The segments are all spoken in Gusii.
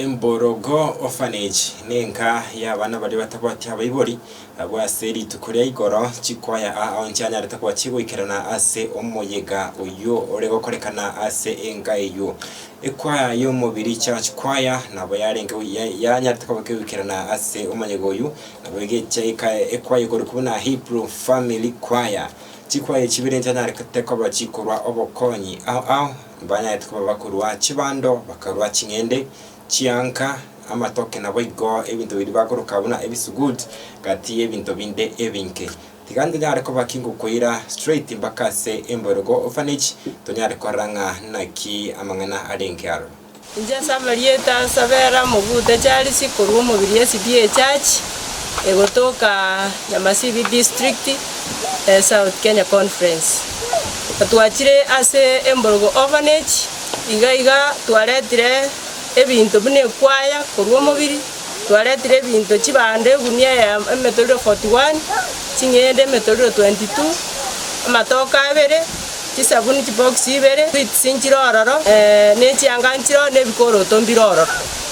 Emborogo, orphanage, nenka y'abana baria batabwati abaibori. Abwo ase rituko ria igoro chikoya aa onsi anyarete gochia goikerana ase omoyega oyio ore gokorekana ase enka eyio. Ekwaya y'omobiri, church choir, nabo yarenge yanyarete goikerana ase omoyega oyio, nabo egechia ekaya ekwaya ekorwa buna Hebrew family choir. Chikwaya echi chibere nchianyarekete koba chikorwa obokonyi ao ao. Mbanyarete koba bakorua chibando, bakarua ching'ende, chianka, amatoke naboigo ebinto biria bakoroka buna ebisugud gati y'ebinto binde ebinke. Tiga ntonyare koba ki ngokoira straight mpaka ase emboirogo orphanage, tonyare korora ng'a naki amang'ana arenge aro. Inche ase amarieta ase abera mogute charisi korwa omobiri esidi echurch egotoka nyamasibi district south kenya conference. Twachire ase emborogo orphanage iga iga twaretire ebinto buna ekwaya korwa omobiri twaretire ebinto chibando egunia emetorero forty one ching'ende emetorero twenty two amatoke abere. chisabuni chibokisi ibere, sweets nchire ororo, eh, nechianga nchire ororo, nebikoroto mbire ororo.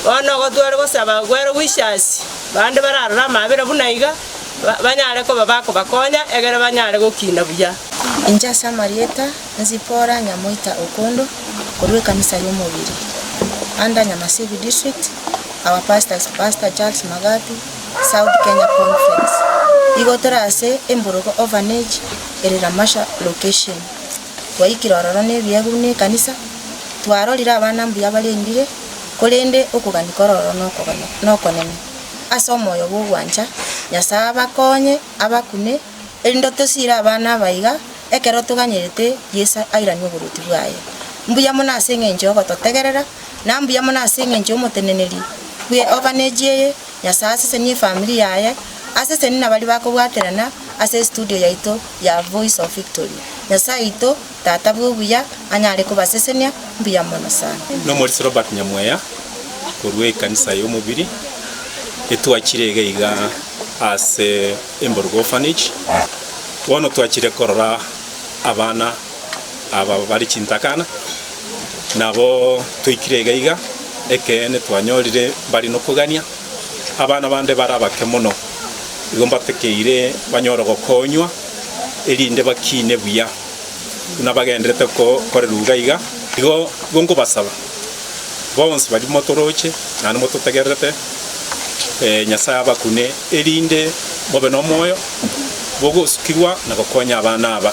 Bono igo tware gosaba Gwere Wishers, bande bararore amaabera buna iga, ba- banyare koba bakobakonya, egere banyare gokina buya. Inche ase amarieta a Zipporah Nyamoita Okondo, korwa ekanisa y'omobiri, under Nyamasibi District, our pastor is Pastor Charles Magabi, South Kenya Conference. Igo tore ase Emburugu Orphanage. ere Lamasha location. Twaikire ororo nebiegwa buna ekanisa, twarorire abana mbuya barendire, korende okogania kore ororo nokogania nokonene. Ase omoyo bw'ogwancha Nyasaye abakonye abakune, erinde otosiire abana aba iga ekero toganyerete Yeso airanie oboruoti bwaye. Mbuya mono ase eng'encho yogototegerera, na mbuya mono ase eng'encho y'omoteneneri bwe orphanage eye Nyasae asesenie efamiri yaye, asesenie nabari bakobwaterana ase studio yaito ya Voice of Victory. Nyasae oito, Tata bw'obuya, anyare kobasesenia mbuya mono sana. Nomorisia Robert Nyamweya korwa ekanisa y'omobiri etwachire iga iga ase Emboruga Orphanage. Bono twachire korora abana. aba bare chintakana, nabo toikire iga iga, ekeene twanyorire mbare nokogania. Abana bande bare abake mono, igo mbatokeire banyore gokonywa, erinde bakiine buya, buna bagenderete gokorerwa iga iga. Igo igo nkobasaba, bonsi baria motoroche, naende mototegererete, Nyasae abakune, erinde mobe nomoyo bw'ogosukigwa na gokonya abana aba.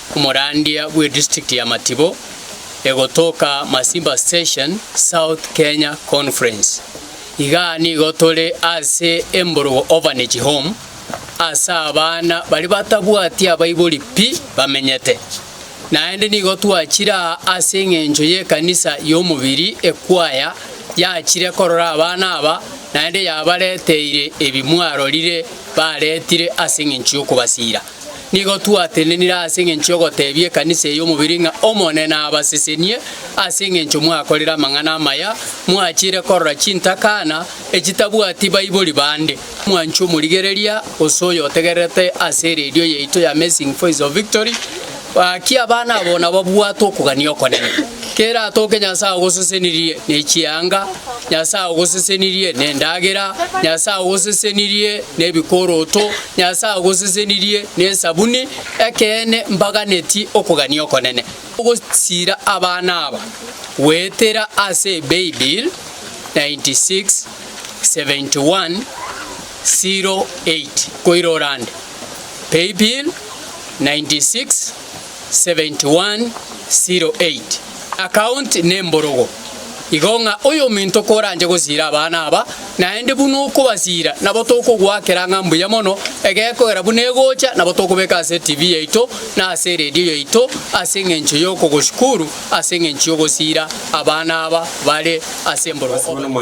Omorandia bwe district ya Matibo egotoka Masimba Station South Kenya Conference. Iga nigo tore ase Emborogo Orphanage Home ase abana baria batabwati abaibori pi bamenyete. Naende nigo twachire aa ase eng'encho y'ekanisa y'omobiri ekwaya yachire korora abana aba naende yabareteire ebi mwarorire baretire ase eng'encho y'okobasiira. Nigo twatenenire ase engencho y'ogoteebia ekanisa eye omobiri ng'a Omonene abasesenie ase engencho mwakorire amang'ana amaya, mwachiire korora chintakana echitabwati baibori bande, mwanchwa omorigereria, gose oyo otegererete ase eredio yaito y'Amazing Voice of Victory, Gaki abana abo nababwate okogania okonene, kera atoke Nyasae ogosesenirie ne chianga, Nyasae ogosesenirie nendagera, Nyasae ogosesenirie nebikoroto, Nyasae ogosesenirie nesabuni, ekeene mbaganeti okogania okonene. Ogosira abana aba goetera ase Paybill 96 71 08 koira orande. Paybill, 967108 Account nemborogo igo ng'a oyominto koranche gosiira abana aba, naende buna okobasiira nabo tokogoakera ng'a mbuya mono, egekogera buna egocha nabo tokobeka ase etibi yaito na ase eredio yaito ase engencho y'okogosukuru ase engencho y'ogosiira abana aba bare ase emborogo.